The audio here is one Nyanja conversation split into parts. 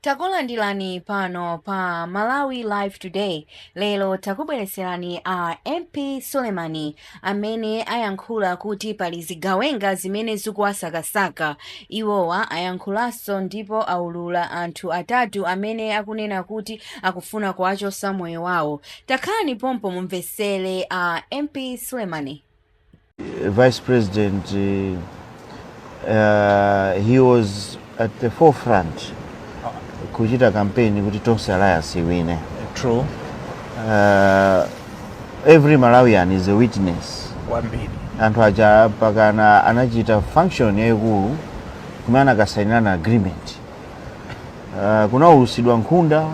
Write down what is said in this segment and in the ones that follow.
takulandirani pano pa malawi live today lero takubweretserani a mp sulemani amene ayankhula kuti pali zigawenga zimene zikuwasakasaka iwowa ayankhulanso ndipo aulula anthu atatu amene akunena kuti akufuna kuwachosa moyo wawo takhalani pompo mumvetsere a mp sulemani vice president uh, he was at the forefront kuchita kampeni kuti tonse alliance iwine true every malawian is a witness kwambiri anthu aja mpakana anachita function yayikulu kumene anakasainirana agreement uh, kunaulutsidwa nkhunda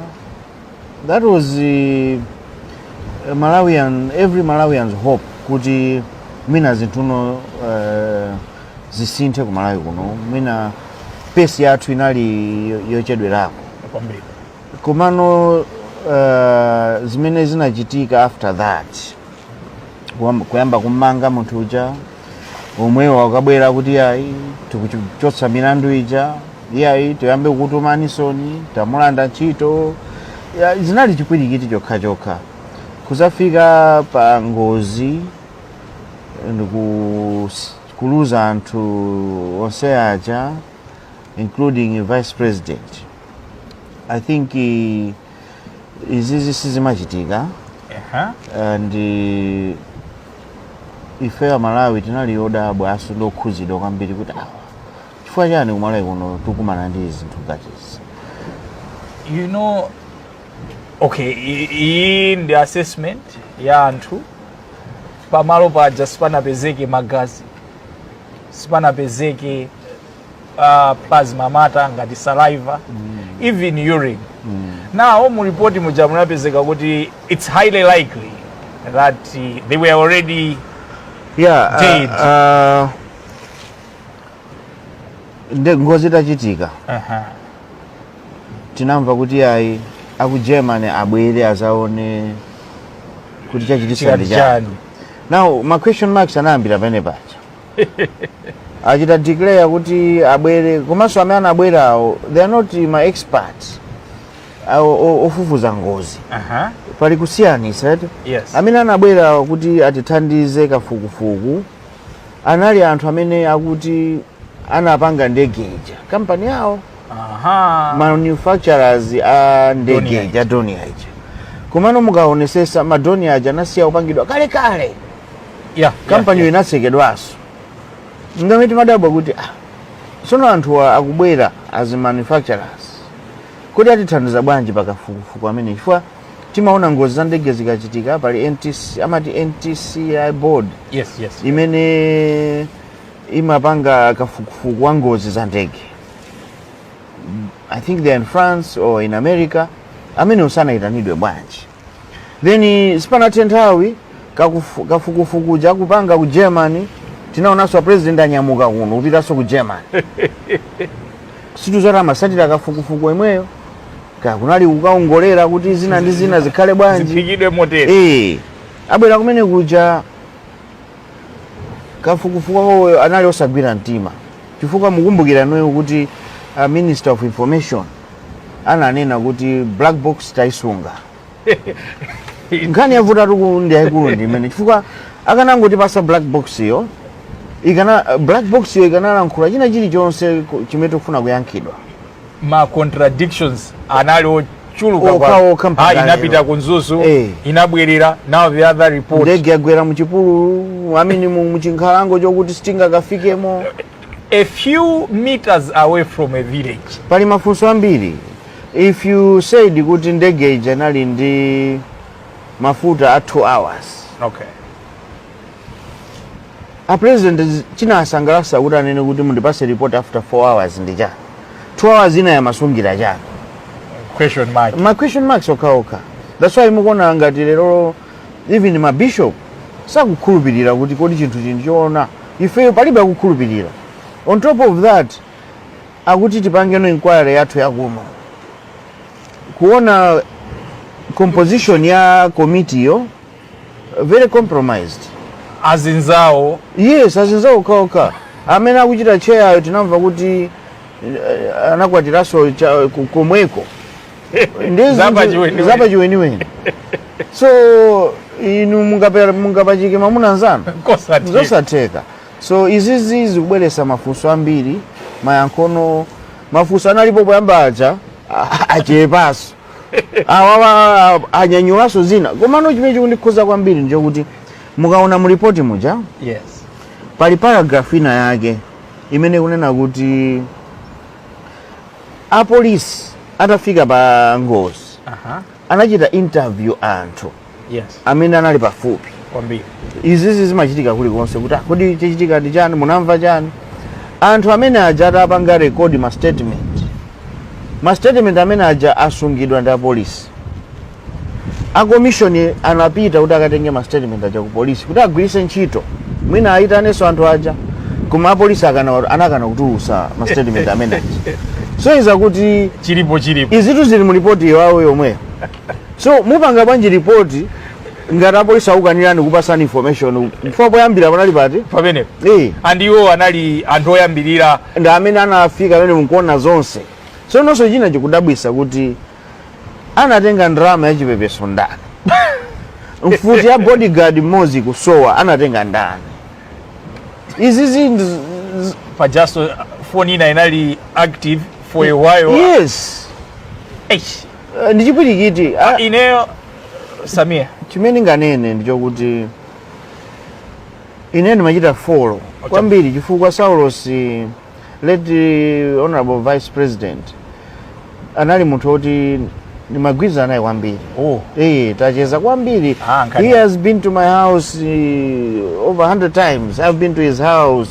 That was uh, Malawi- every Malawian's hope kuti mwina zinthuno uh, zisinthe ku Malawi kuno mwina pesi yathu inali yo- yochedwerako kwambiri komano uh, zimene zinachitika after that Kuyamba- kuyamba kumanga munthu uja omwewo akabwera kuti yayi tikuchotsa milandu ija yayi tiyambe kukutumanitsoni tamulanda ntchito ya, zinali chipwirikiti chokha chokha kuzafika pa ngozi ndikus- kuluza anthu onse aja including vice president i think eh, izizi sizimachitika Aha. And ife amalawi tinali odabwa aso ndi okhuzidwa kwambiri kuti aa chifukwa chani kumalawi kuno tikumana ndi zinthu ngati izi you know okay i- iyi ndi assessment ya anthu pamalo paja sipanapezeke magazi sipanapezeke uh, plasma matter ngati saliva mm. even urine mm. now mu report muja munapezeka kuti it's highly likely that uh, they were already yeah, uh, dead uh, uh, ngozi itachitika uh -huh. tinamva kuti ayi aku germany abwere azaone kuti chachitika ndi chani now ma question marks anayambira penepaja achita declare kuti abwere komanso amene anabwerawo they are not ma experts awo- o- ofufuza ngozi Aha. pali kusiyanisa eti Yes. amene anabwerawo kuti atithandize kafukufuku anali anthu amene akuti anapanga ndege ija kampani yawo Aha. manufacturers a ndege Dornier. ija Dornier ija komano mukaonesesa ma Dornier aja anasiya kupangidwa kalekale ya kampaniyo inatsekedwanso n'chamene timadabwa kuti ah, sono anthuwa akubwera as manufacturers kodi atithandiza bwanji pakafukufuku amene chifukwa timaona ngozi za ndege zikachitika pali NTC, amati ntci board yes yes imene imapanga kafukufuku wa ngozi za ndege i think they're in france or in america amene sanayitanidwe bwanji Then sipanathe nthawi kakufu- kafukufuku uja akupanga ku Germany tinaonanso a president anyamuka kuno kupitanso ku Germany. Sitidziwa amatsatira kafukufuku yemweyo kaya kunali kukaongolera kuti zina ndi zina zikhale bwanji. ziphikidwe motero Eh, abwera kumene kuja kafukufuku wawoyo anali osagwira mtima chifukwa mukumbukira inuyo kuti a minister of information ananena kuti black box taisunga nkhani yavutatu ku ndi yayikulu ndi imeneyi chifukwa akanangotipatsa black box yo ikana black box yo ikanalankhula china chilichonse ku- chimene tikufuna kuyankhidwa ma contradictions anali ochuluka Okha, kwa- okha mpaka Ah, lero. inapita ku Mzuzu Eh. inabwerera now the other report ndege yagwera muchipululu I mean mu- muchinkhalango chokuti sitingakafikemo a few meters away from a village pali mafunso ambiri if you said kuti ndege ija inali ndi mafuta a 2 hours okay a president chinasangalatsa kuti anene kuti mundipatse report after 4 hours ndi chani 2 hours inayo amasungira chani question mark ma question marks okhaokha that's why mukuona ngati lero even ma bishop sakukhulupirira kuti kodi chinthuchi ndi choona ifeyo palibe akukhulupirira on top of that akuti tipangeno inquiry yathu yakuno kuona composition ya komitiyo very compromised azinzawo yes azinzawo okhaokha amene akuchita chair yo tinamva kuti eh, anakwatiranso cha- ku- komweko Ndiye zinthu- Zapachiweniweni. zapachiweniweni so inu mungape- mungapachike mamuna mnzanu kosati zosatheka so izizi zikubweretsa mafunso ambiri mayankhono mafunso analipo poyamba aja a- achepanso awawa anyanyulanso zina komano chimene chikundikhuza kwambiri nchokuti mukaona mu ripoti muja yes pali paragraph ina yake imene ikunena kuti apolisi atafika pa ngozi aha anachita interview anthu anthu amene anali pafupi kwambiri izizi zimachitika kulikonse kuti "Ah, kodi chachitika ndi chani munamva chani anthu amene aja atapanga rekodi ma statement ma statement amene aja asungidwa ndi apolisi akomishoni anapita kuti akatenge ma statement aja ku polisi kuti agwiritse ntchito mwina ayitanenso anthu aja koma apolisi akana- anakana kutulutsa ma statement amene aja sonyeza kuti chilipo chilipo izitu zili mu ripoti yawo yomweyo So mupanga bwanji report ngati apolisi akukanirani kupasani information chifukwa poyambira panali pati pamene Eh. and iwo anali anthu oyambirira ndi amene anafika pamene mukuona zonse so funso china chikudabwitsa kuti anatenga ndalama ya chipepeso ndani mfuti ya bodyguard mmodzi kusowa anatenga ndani izi zinthu z- pajaso foni ina inali active for a while yes Eish. Eh, ndi chipwirikiti Ah, Ah, ineyo samia chimene ndinganene ndichokuti ine ndimachita folo kwambiri chifukwa saulos late honorable vice president anali munthu woti ndimagwirizana naye kwambiri oh. Eh, tacheza kwambiri Ah, nkhani. he has been to my house over 100 times i've been to his house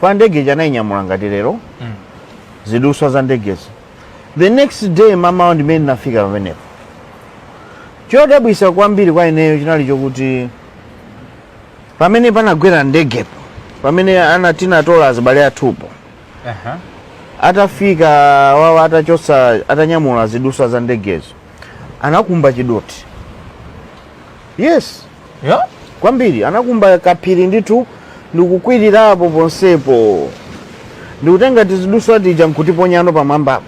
kwa ndege ija anayinyamula ngati lero mm. zidutswa za ndegezo the next day mmawa ndimene ndinafika pamenepo chodabwitsa kwambiri kwa ineyo chinali chokuti pamene panagwera ndegepo pamene ana tinatola azibale athupo uh -huh. atafika wawa atachotsa atanyamula zidutswa za ndegezo anakumba chidothi yes Yeah? kwambiri anakumba kaphiri ndithu ndikukwirirapo ponsepo ndikutenga tizidutswa tija nkutiponyanso pamwambapo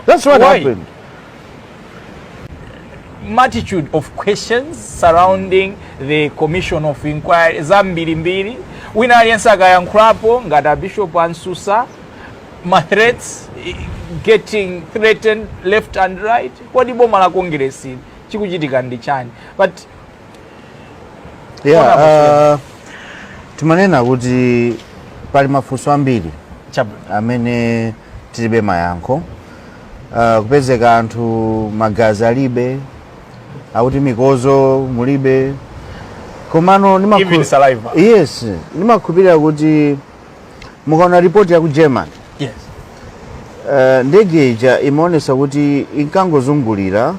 that's what Why? happened multitude of questions surrounding the commission of inquiry zambirimbiri wina aliyense akayankhulapo ngati abishop a msusa ma threats i- getting threatened left and right kodi boma la congress ili chikuchitika ndi chani but yeah, uh, timanena kuti pali mafunso ambiri amene tilibe mayankho uh, kupezeka anthu magazi alibe akuti mikodzo mulibe komano yes ndimakhulupirira kuti mukaona ripoti ya ku germany yes. uh, ndege ija imaonesa kuti inkangozungulira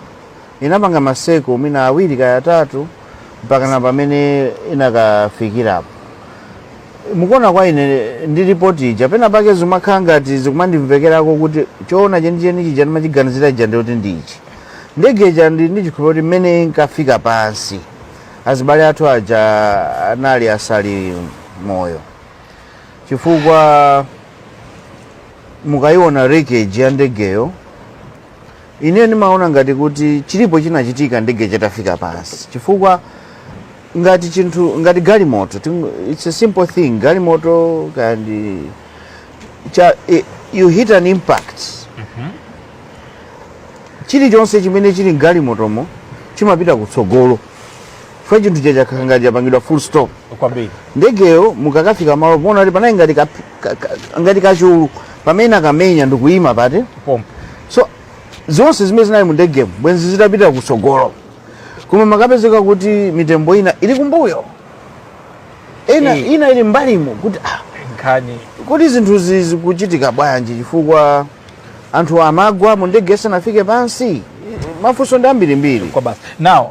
inapanga maseko mwina awiri kaya atatu mpaka na pamene inakafikirapo mukuona kwa ine ndi ripoti ija pena pake zimakhala ngati sizikumandimvekerako kuti choona chenicheni chija ndimachiganizira ija ndiyoti ndi ichi ndege ija ndili ndi chikhulupiriro kuti mmene inkafika pansi azibale athu aja anali asali moyo chifukwa mukayiona wreckage ya ndegeyo ine ndimaona ngati kuti chilipo chinachitika ndege isanafike pansi chifukwa ngati chinthu ngati galimoto ting- it's a simple thing galimoto ikangocha, i- you hit an impact chilichonse chimene chili mgalimotomo chimapita kutsogolo chifukwa chinthu chija chakhala ngati chapangidwa full stop kwambiri ndegeyo mukakafika malo paja kuti panali ngati ka- ka- ka- ngati kachulu pamene akamenya ndikuyima pati pompo so zonse zimene zinali mu ndegemu bwenzi zitapita kutsogolo koma mukapezeka kuti mitembo ina ili kumbuyo ina, Eh. ina ili mbalimo kuti ah, nkhani kuti zinthu zi- zikuchitika bwanji chifukwa anthu amagwa mu ndege sanafike pansi mafunso ndi ambirimbiri kwa basi now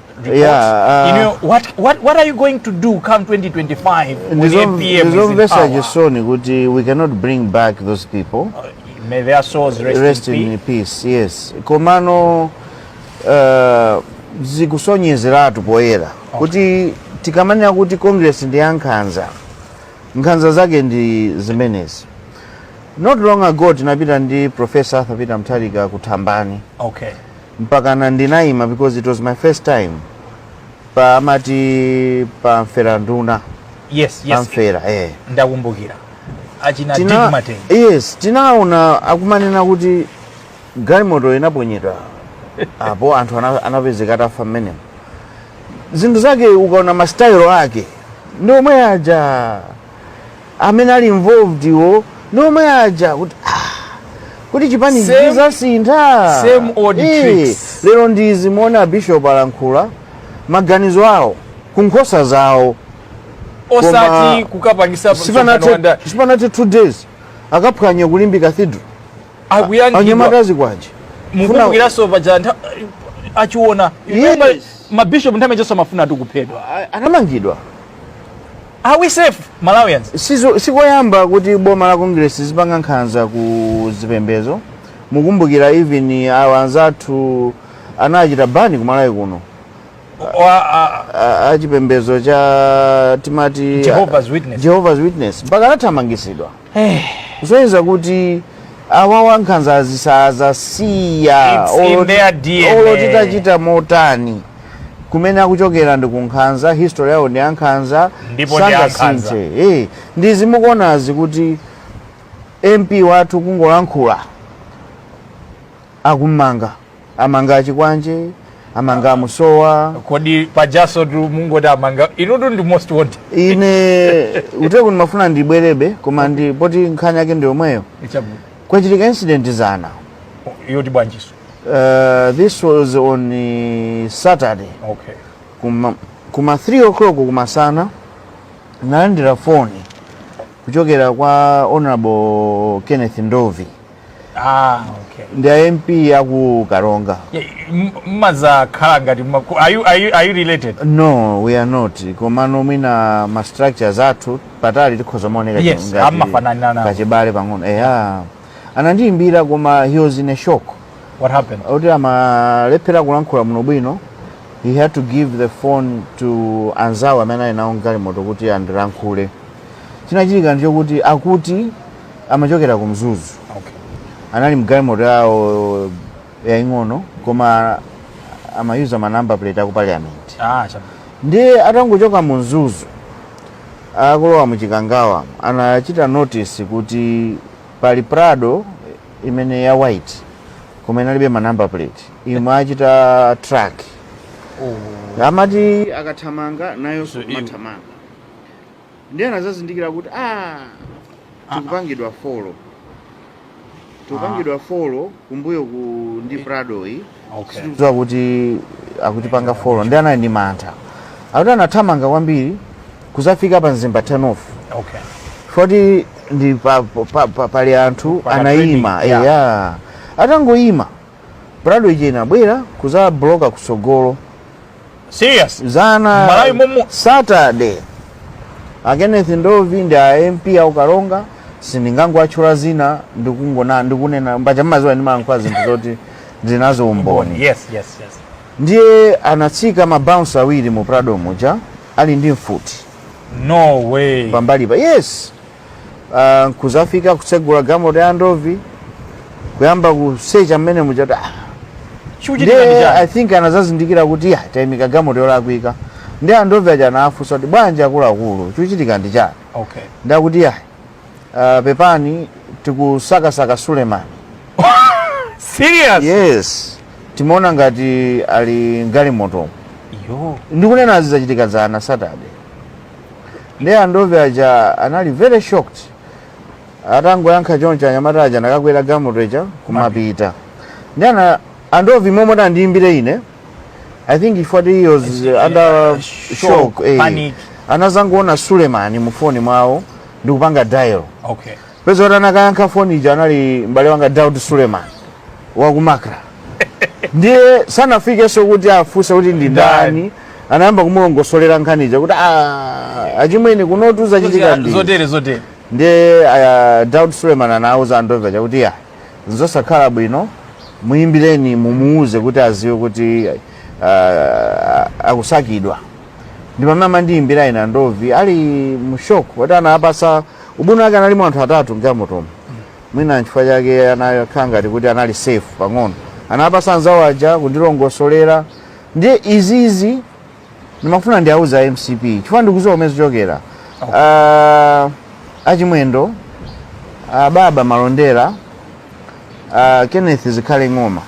report. Yeah, uh, you know, what, what, what are you going to do come 2025 when APM is in power? ndizomvesa chisoni kuti we cannot bring back those people May their souls rest, rest in, in peace. peace yes komano uh, zikusonyezeratu poyera kuti tikamanena kuti congress ndi yankhanza nkhanza zake ndi zimenezi not long ago tinapita ndi professor arthur peter mutharika ku thambani Okay. mpakana ndinaima because it was my first time pa amati pa mpheranduna yes pa yes mphera eh. ndakumbukira achina Tina- Dick Matenje yes tinaona akumanena kuti galimoto inaponyedwa apo anthu ana- anapezeka atafa mmenemo zinthu zake ukaona masitayilo ake ndi omwe aja amene ali involved wo ndi omwe aja kuti ah, kuti chipani Same- sichizasintha same old Eh, tricks. lero ndi izi muone abishop alankhula maganizo awo ku nkhosa zawo osati Koma- kukapangisa msonkhano wa ndale. sipanati two days akaphwanya ku limbe cathedral akuyankhidwa anyamata a chikwanje mukumbukiranso paja nthawi achina Yes. mabishopu nthawi zonse amafuna ati kuphedwa anamangidwa Are we safe, Malawians? Sizo- sikoyamba kuti boma la congress lipanga nkhanza ku zipembezo mukumbukira even awa anzathu anachita bani kumalawi kuno Wa- a- A- a chipembezo cha timati Jehovah's Witness. Jehovah's Witness mpaka anathamangisidwa kusonyeza kuti awawa nkhanzazi sadzasiya It's in their DNA. olo titachita motani kumene akuchokera ndi kunkhanza history yawo ndi yankhanza Ndipo ndi yankhanza. sangasinthe. Eh, ndi zimukuonazi kuti mp wathu kungolankhula akumanga amanga achikwanje amanga a Msowa kodi pajanso tu mungoti amanga inutu ndi most wanted ine ntheko ndimafuna ndibwerebe koma ndi poti nkhani yake ndi yomweyo Chabwino. kwachitika incident dzana yoti bwanjiso uh, this was on uh, saturday okay kuma, kuma 3 o'clock kumasana nalandira foni kuchokera kwa honorable kenneth ndovi Ah, okay. ndi a mp aku karonga Yeah, m- mmazakhala ngati mmaku- are you, are you, are you related no we are not komano mwina ma structures athu patali tikhoza kumaoneka Yes, amafanana nawo. kachibale pang'ono eya anandiyimbira koma he was in a shock what happened kuti amalephera kulankhula bwino bwino he had to give the phone to anzawo amene ali nawo mgalimoto kuti andilankhule chinachitika ndichokuti akuti amachokera ku mzuzu okay. anali mgalimoto yawo yaing'ono koma amayuza ma number plate aku parliament ah, ndiye atangochoka mu mzuzu akulowa mu chikangawa anachita notice kuti pali prado imene ya white koma inalibe ma number plate imawachita track oh. amati akathamanga nayo so, kumathamanga ndiye anadzazindikira kuti a tikupangidwa follow tikupangidwa follow kumbuyoku ndi prado iyi Okay. sitikudziwa kuti akutipanga follow ndiye anali ndi mantha akuti anathamanga kwambiri kudzafika pa mzimba turn off Okay. poti ndi pa, pa, pa, pali anthu Pana anayima trading, yeah. eya atangoyima prado ije inabwera kudzabloka kutsogolo serious dzana Malawi momo. saturday a kenneth ndovi ndi a mp aku karonga sindingangowatchula dzina ndikungona ndikunena bwanji mmadziwa ndimalankhula zinthu zoti zina zaumboni yes yes yes ndiye anatsika mabouncer awiri mu prado muja ali ndi mfuti no way pambalipa yes ah, nkuzafika kutsegula galimoto ya ndovi kuyamba kusecha mmene mujati ah, chikuchitika ndi ndiye i chani think anazazindikira kuti ah tayimika galimoto yolakwika ndiye andovi aja anafunsa kuti bwanji akuluakulu chikuchitika ndi chani okay nde akuti ah, pepani tikusakasaka sulemani serious yes timaona ngati ali mgalimotomo ndikunena izi zachitika dzana saturday ndiye andovi aja anali very shocked atangoyankha choncho anyamata aja anakakwera gamoto ija kumapita ndiye andovi momwe ati andiyimbire ine i think chifukwa choti he was under shock eh. anazangoona sulemani mu foni mwawo ndikupanga dial okay Popeza kuti anakayankha foni ija anali m'bale wanga Daud Suleman wa ku Macra. Ndiye sanafikenso kuti afunse kuti ndi ndani. Anayamba kumulongosolera nkhani ija kuti "Ah, achimwene kunotu zachitika ndi. zotere zotere Ndiye uh, Daud Suleman anauza Andovi aja kuti ah nzosakhala bwino muyimbireni mumuuze kuti aziwe kuti uh, akusakidwa. Ndi pamene amandiyimbira ine Andovi ali mu shock kuti anapasa Ubwino wake analimo anthu atatu mgalimotomo mwina nchifukwa chake anakhala ngati kuti anali safe pang'ono anapasa anzawo aja kundilongosolera ndiye izizi ndimafuna ndiwauze a mcp chifukwa ndikuziwa kumene zichokera Ah, a Chimwendo ah, baba malondera ah, kenneth zikhale ng'oma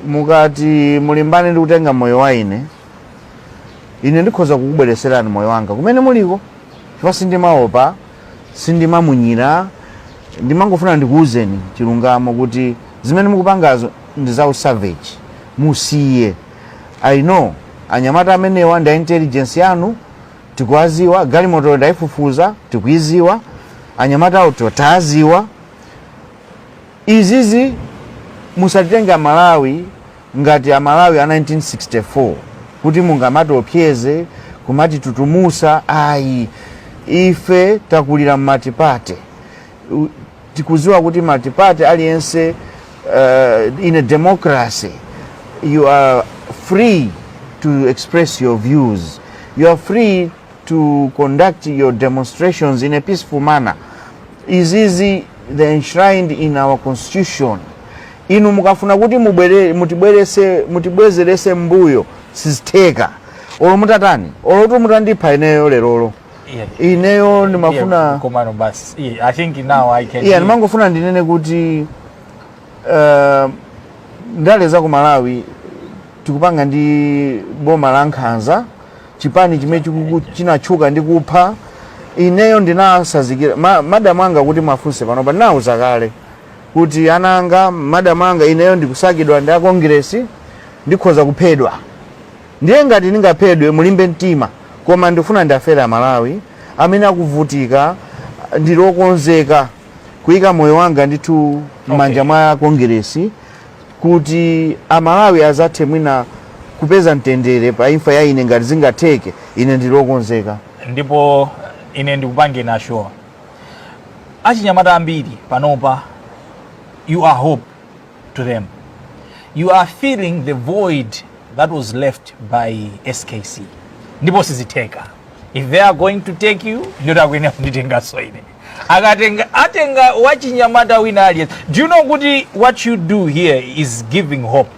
mukati mulimbane ndi kutenga moyo wa ine ine ndikhoza kukubwereserani moyo wanga kumene muliko chifukwa sindimaopa sindimamunyira ndimangofuna ndikuwuzeni chilungamo kuti zimene mukupangazo ndi za usavage musiye i know anyamata amenewa ndi a intelligence yanu tikuwaziwa galimotoyo ndayifufuza tikuyiziwa anyamata awo tawaziwa izizi musatitenge amalawi ngati a Malawi a 1964 kuti mungamatiopseze kumatitutumusa ayi ife takulira mmultiparty tikuziwa kuti multiparty aliyense uh, in a democracy you are free to express your views you are free to conduct your demonstrations in a peaceful manner izizi they're enshrined in our constitution Inu mukafuna kuti mutibwezeretse mmbuyo, sizitheka. Olo mutatani, olo mutandipha ineyo lerolo, Yeah. ineyo Yeah, ndimafuna. komano basi. Yeah, I think now I can. Yeah, ndimangofuna ndinene kuti uh, ndale za ku Malawi tikupanga ndi boma la nkhanza chipani chimene chikuku- chinatchuka ndi kupha ineyo ndinasazikira madamu anga kuti mwafunse panopa ndinauza kale kuti ana anga, madam anga, ineyo ndikusakidwa ndi a Congress, ndikhoza kuphedwa. Ndiye ngati ndingaphedwe, mulimbe mtima, koma ndikufuna ndiafere a Malawi amene akuvutika, ndili okonzeka kuika moyo wanga ndithu m'manja mwa Congress kuti a Malawi azathe mwina kupeza mtendere pa imfa ya ine ngati zingatheke, ine ndili okonzeka. Ndipo ine ndikupange na sure achinyamata ambiri panopa you are hope to them you are filling the void that was left by skc ndipo sizitheka if they are going to take you ndiyoti akuyenera kunditenganso ine akatenga atenga wachinyamata wina aliyense do you know kuti what you do here is giving hope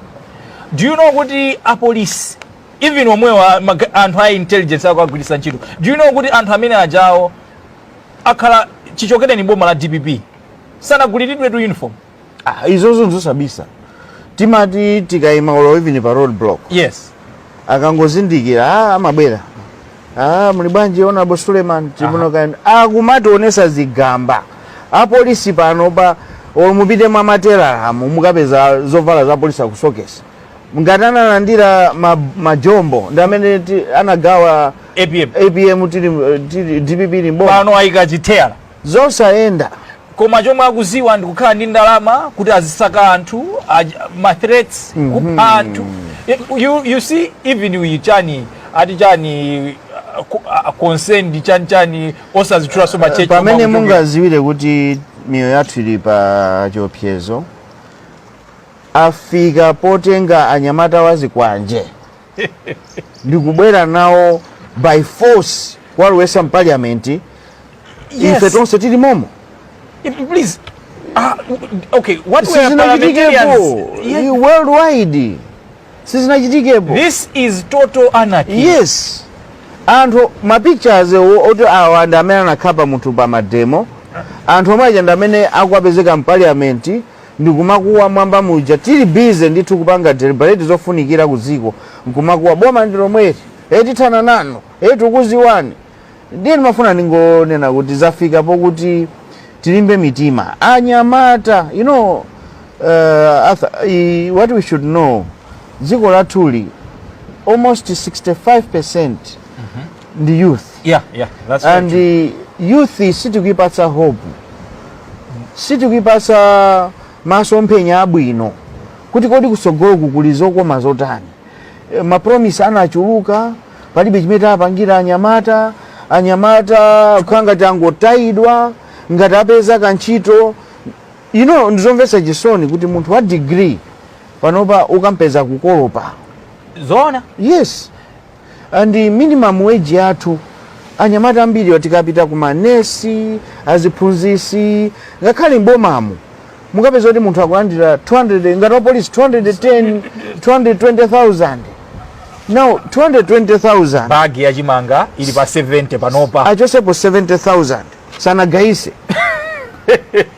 do you know kuti apolisi even omwewa ma ga- anthu a intelligence akuwagwiritsa ntchito do you know kuti anthu amene ajawo akhala chichokereni boma la dpp sanaguliridwetu uniform Ah, izozo nzosabisa timati tikayima olo even pa road block yes akangozindikira ah, amabwera ah, muli bwanji honorable suleiman chimuno kaenda akumationesa zigamba apolisi panopa olo mupite mwa matelala umu mukapeza zovala za polisi akusokesa ngati analandira ma, majombo ndi amene ti- anagawa apm apm tili, tili dpp ili mboma panopa ayika chithera zosayenda koma chomwe akuziwa ndi kukhala ndi ndalama kuti azisaka anthu aj- ma threats kupha anthu You- you, you see even uyu chani ati chani uh, ku- uh, concerned chani chani osazitchulaso machechi pamene mungaziwire kuti miyoyo yathu ili pa chiopsezo afika potenga anyamata a zikwanje ndikubwera nawo by force kuwalowetsa mpaliamenti Yes. ife tonse tili momo If, please. Uh, okay, what were parliamentarians? sizinachitikepo Yes. Ni worldwide sizinachitikepo This is total anarchy. yes anthu mapictures wo- oti awa ndi amene anakhapa munthu pa mademo anthu omwe aja ndi amene akupezeka mpaliamenti ndikumakuwa mwamba muja tili busy ndithu kupanga deliberate zofunikira ku dziko nkumakuwa boma ndi lomweli e tithana nanu e tikudziwani ndiye ndimafuna ndingonena kuti zafika pokuti tilimbe mitima anyamata you know uh, Arthur, i- what we should know dziko lathuli almost 65% ndi youth yeah yeah that's very and true. uh, youth sitikuipatsa hope sitikuipatsa masomphenya abwino kuti kodi kutsogolo kukuli zokoma zotani mapromise anachuluka palibe chimene tapangira anyamata anyamata kukhala ngati angotayidwa ngati apeza kantchito you know ndizomvetsa chisoni kuti munthu wa degree panopa ukampeza kukolopa zoona yes and minimum wage yathu anyamata ambiri tikapita ku manesi aziphunzisi ngakhale mbomamu mukapeza kuti munthu akulandira 200 ngati wapolisi 210 220000 now 220000 bagi ya chimanga ili pa 70 panopa achotsepo 70000 sanagayise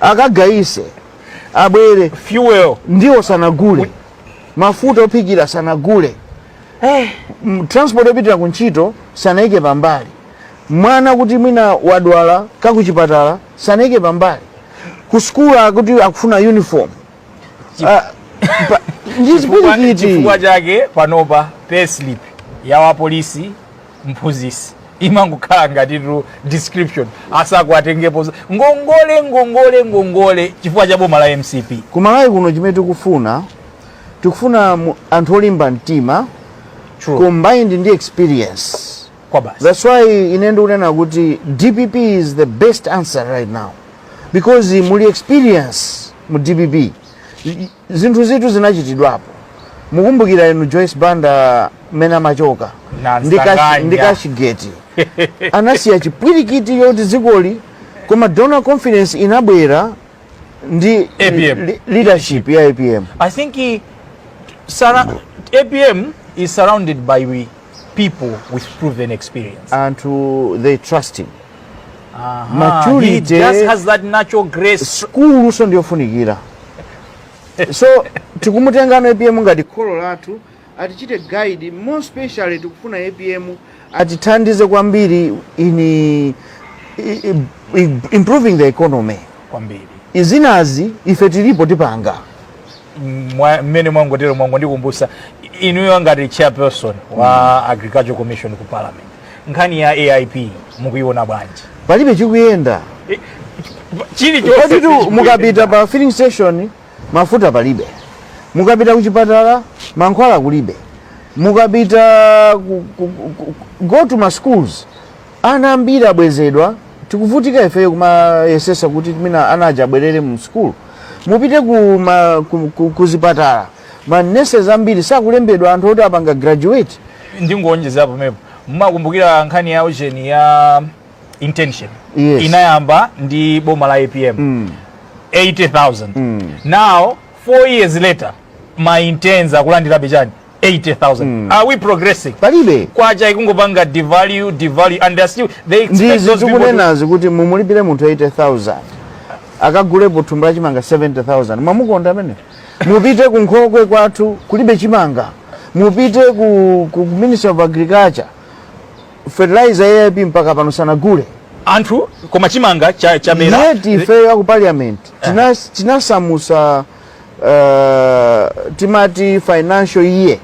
akagayise abwere fuel ndiwo sanagule mafuta ophikira sanagule hey, eh, mm, transport yopitira ku ntchito sanaike pambali mwana kuti mwina wadwala kakuchipatala sanaike pambali ku sukulu akuti akufuna uniform ah, chifukwa chake panopa payslip ya wapolisi mphunzisi imangokhala ngatitu description atsakuatengepo ngongole ngongole ngongole chifukwa cha boma la mcp kumalawi kuno chimene tikufuna tikufuna mu- anthu olimba mtima True. combined ndi experience that's why ine ndikunena kuti dpp is the best answer right now because muli experience mu dpp I- zinthuzitu zinachitidwapo mukumbukira inu joyce banda mmene amachoka Na ndi Kashi- Msanganya. ndi kashigeti anasiya chipwirikiti choti dzikoli koma donor confidence inabwera ndi APM. li- leadership ya apm I think he, sara, APM is surrounded by we people with proven experience. anthu they trust him Ah, he maturity- just has that natural grace. luso ndiyofunikira so tikumutengano apm ngati kholo lathu atichite guide more especially tikufuna apm atithandize kwambiri in i- i- i- improving the economy kwambiri izinazi ife tilipo tipanga Mwa- mmene mwangotero mwangondikumbusa inuyo ngati chairperson wa agriculture committee ku parliament nkhani ya aip mukuiona bwanji palibe chikuyenda chili chonse koditu sichikuyenda. mukapita pa filling station Mafuta palibe. Mukapita kuchipatala, mankhwala kulibe. Mukapita ku, ku, ku, go to ma schools, ana ambiri abwezedwa. Tikuvutika ifeyo kumayesesa kuti mwina ana aja abwerere mu school. Mupite ku, ma, ku, ku, ku zipatala, ma nurses ambiri sakulembedwa anthu oti apanga graduate. Ndingowonjezera pamenepo, mumakumbukira nkhani ya ujeni ya internship yes. inayamba ndi boma la apm mm. 80000 mm. now 4 years later ma interns akulandirabe chani 80000 mm. are we progressing palibe kwacha ikungopanga devalue devalue and they still they expect those people kunena kuti mumulipire munthu 80000 akagulepo thumba la chimanga 70000 mwamukonda amene mupite ku nkhokwe kwathu kulibe chimanga mupite ku, ku ministry of agriculture fertilizer ya AIP mpaka pano sanagule anthu koma chimanga chamera yet ifeyo aku parliament tinas- tinasamusa uh, timati financial year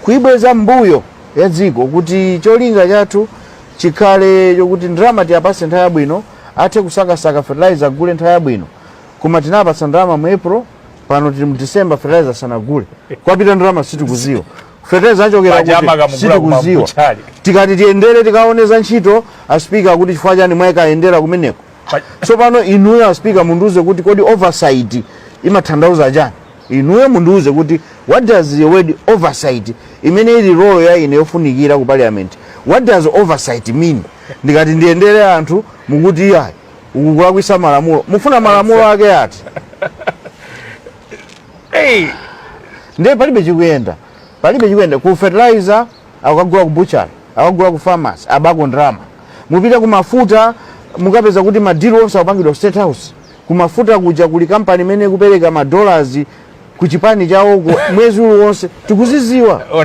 kuibweza mbuyo ya dziko kuti cholinga chathu chikhale chokuti ndalama tiwapase nthawi yabwino athe kusakasaka fertilizer agule nthawi yabwino koma tinapatsa ndalama mu april pano tili mu december fertilizer sanagule komwe yapita ndalama sitikuziwa feteleza achokera Paja kuti amakamugula sitikuziwa kumambuchali. tikati tiyendere tikaone za ntchito aspika akuti chifukwa chani mwakayendera kumeneko Pa- tsopano inuyo aspika mundiuze kuti kodi oversight imathandauza chani inuyo mundiuze kuti what does the word oversight imene ili role ya ine yofunikira ku parliament what does oversight mean ndikati ndiyendere anthu mukuti ayi ukulakwisa malamulo mufuna malamulo ake ati hey! ndiye palibe chikuyenda palibe chikuyenda ku fertilizer akagula ku butchery akagula ku pharmacy abako ndalama mupita ku mafuta mukapeza kuti madilo onse akupangidwa ku state house ku mafuta kuja kuli kampani imene ikupereka madollars ku chipani chawoko mwezi uliwonse tikuziziwa ona